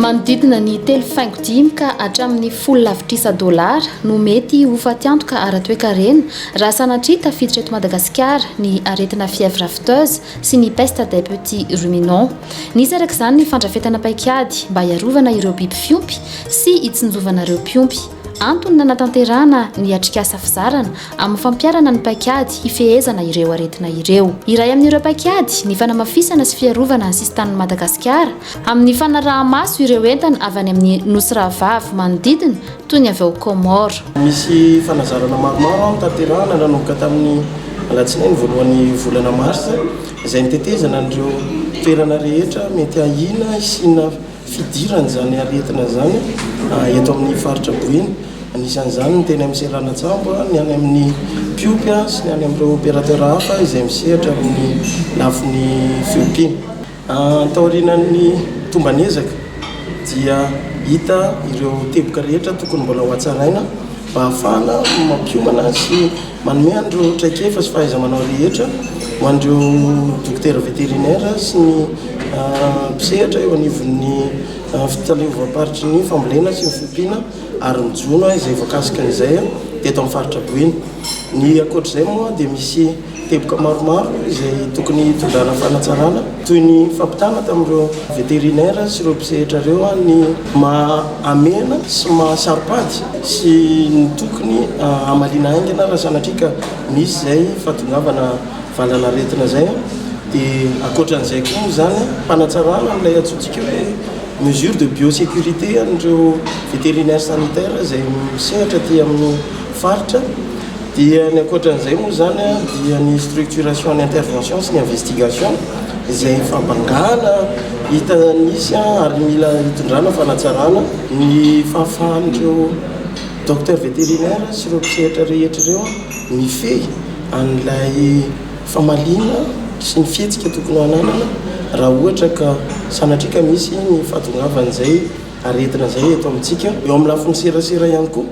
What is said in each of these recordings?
Manodidina ny telo faingo dimy ka hatramin'ny folo lavitrisa dolara no mety ho fatiantoka ara-toekarena raha sanatria tafiditra eto Madagasikara ny aretina fièvre afteuse sy ny peste des petits ruminants. Nisy araka izany ny fandrafetana paikady mba hiarovana ireo biby fiompy sy hitsinjovana ireo mpiompy. Antony nanatanterahana ny atrikasa fizarana amin'ny fampiharana ny paikady hifehezana ireo aretina ireo. Iray amin'ireo paikady ny fanamafisana sy fiarovana ny sisin-tanin'i Madagasikara amin'ny fanaraha-maso ireo entana avy any amin'ny Nosy Rahavavy manodidina toy ny avy ao Comores. Misy fanazarana maromaro hotanterahina nanomboka tamin'ny alatsinainy voalohan'ny volana marsa izay ny tetezana an'ireo toerana rehetra mety ahiana hisiana fidiran'izany aretina izany eto amin'ny faritra Boeny. Anisan'izany ny teny amin'ny seranan-tsambo, ny any amin'ny Piopy sy ny any amin'ireo opérateur hafa izay misehatra amin'ny lafiny fiompiana. Taorianan'ny tomban'ezaka dia hita ireo teboka rehetra tokony mbola ho hatsaraina mba hahafahana mampiomana sy manome an'ireo traikefa sy fahaiza-manao rehetra ho an'ireo dokotera vétérinaire sy ny mpisehatra eo anivon'ny fitaleovam-paritry ny fambolena sy ny fiompiana ary ny jono izay voakasika an'izay teto amin'ny faritra Boeny. Ny ankoatr'izay moa dia misy teboka maromaro izay tokony hitondrana fanatsarana toy ny fampitana tamin'ireo vétérinaire sy ireo mpisehatra ireo ny maha amena sy maha saro-pady sy ny tokony hamaliana haingana raha sanatria ka misy izay fahatongavana valanaretina zay an, de akoatran'izay koa moa zany an, fanatsarana an'ilay antsointsika hoe mesure de biosecurité an'ireo vétérinaire sanitaire zay misehatra aty amin'ny faritra, dia ny akoatran'izay moa zany an, dia ny structuration ny intervention sy ny investigation izay fabangana hita nisy an, ary mila hitondrana fanatsarana, ny fahafahan'ireo docteur vétérinaire sy ireo mpisehatra rehetra ireo an. Mifehy an'ilay famaliana sy ny fihetsika tokony ho ananana raha ohatra ka sanatria ka misy ny fahatongavan'izay aretina izay eto amintsika. Eo amin'ny lafiny serasera ihany koa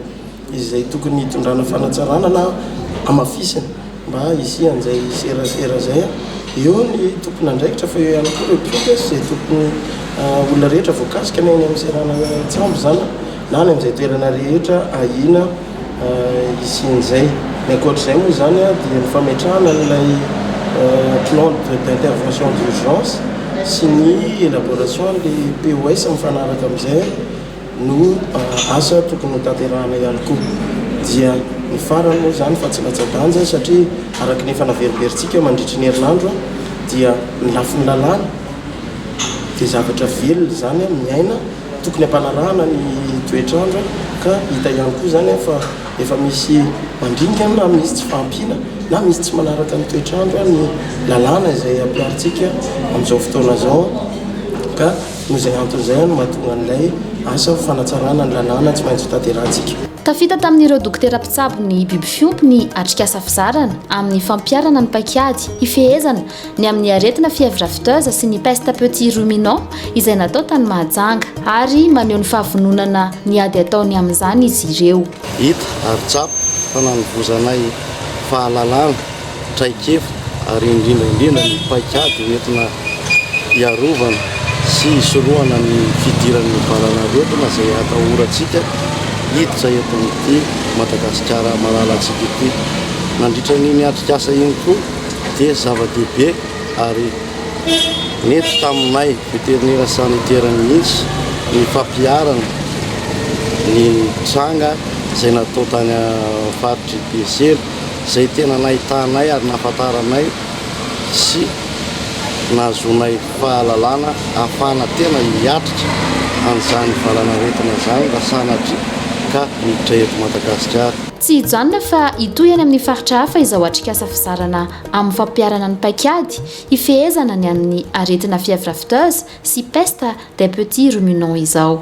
izay tokony hitondrana fanatsarana na hamafisina mba hisian'izay serasera izay. Eo ny tompon'andraikitra fa eo ihany koa ireo mpiompy izay tokony, olona rehetra voakasika na eny amin'ny seranatsambo izany na any amin'izay toerana rehetra ahiana. hisian'izay. Ny ankoatra izay moa izany dia ny fametrahana an'ilay plan d'intervention d'urgence sy ny élaboration an'ilay POS mifanaraka amin'izay no asa tokony ho tanterahana ihany koa. Dia ny farany moa izany fa tsy latsa-danja satria araka ny efa naverimberitsika mandritry ny herinandro dia ny lafiny lalàna dia zavatra velona izany miaina Tokony hampanarahana ny toetr'andro ka hita ihany koa izany fa efa misy mandringana na misy tsy fahampiana na misy tsy manaraka ny toetr'andro ny lalàna izay ampiharintsika amin'izao fotoana izao ka noho izay antony izay no mahatonga an'ilay asa fanatsarana ny lalàna tsy maintsy hotanterahantsika. Tafita tamin'ireo dokotera mpitsabo ny biby fiompy ny atrikasa fizarana amin'ny fampiharana ny paik'ady hifehezana ny amin'ny aretina fièvre afteuse sy ny peste petit ruminant izay natao tany Mahajanga ary maneho ny fahavononana ny ady ataony amin'izany izy ireo. Hita ary tsapa fa nanovozanay fahalalana, traikefa ary indrindra indrindra ny paikady hoentina hiarovana sy hisorohana ny fidiran'ny valanaretina izay atahorantsika hiditra eto amin'ity Madagasikara malalantsika ity. Nandritra an'iny atrikasa iny koa dia zava-dehibe ary nety taminay veterinera sanitera mihitsy ny fampiharana ny tranga izay natao tany amin'ny faritr'i Besero izay tena nahitanay ary nahafantaranay sy nahazoanay fahalalana ahafahana tena hiatrika an'izany valanaretina izany raha sanatria ka miditra eto Madagasikara. Tsy hijanona fa hitohy any amin'ny faritra hafa izao atrikasa fizarana amin'ny fampiharana ny paik'ady hifehezana ny amin'ny aretina fièvre afteuse sy peste des petits ruminants izao.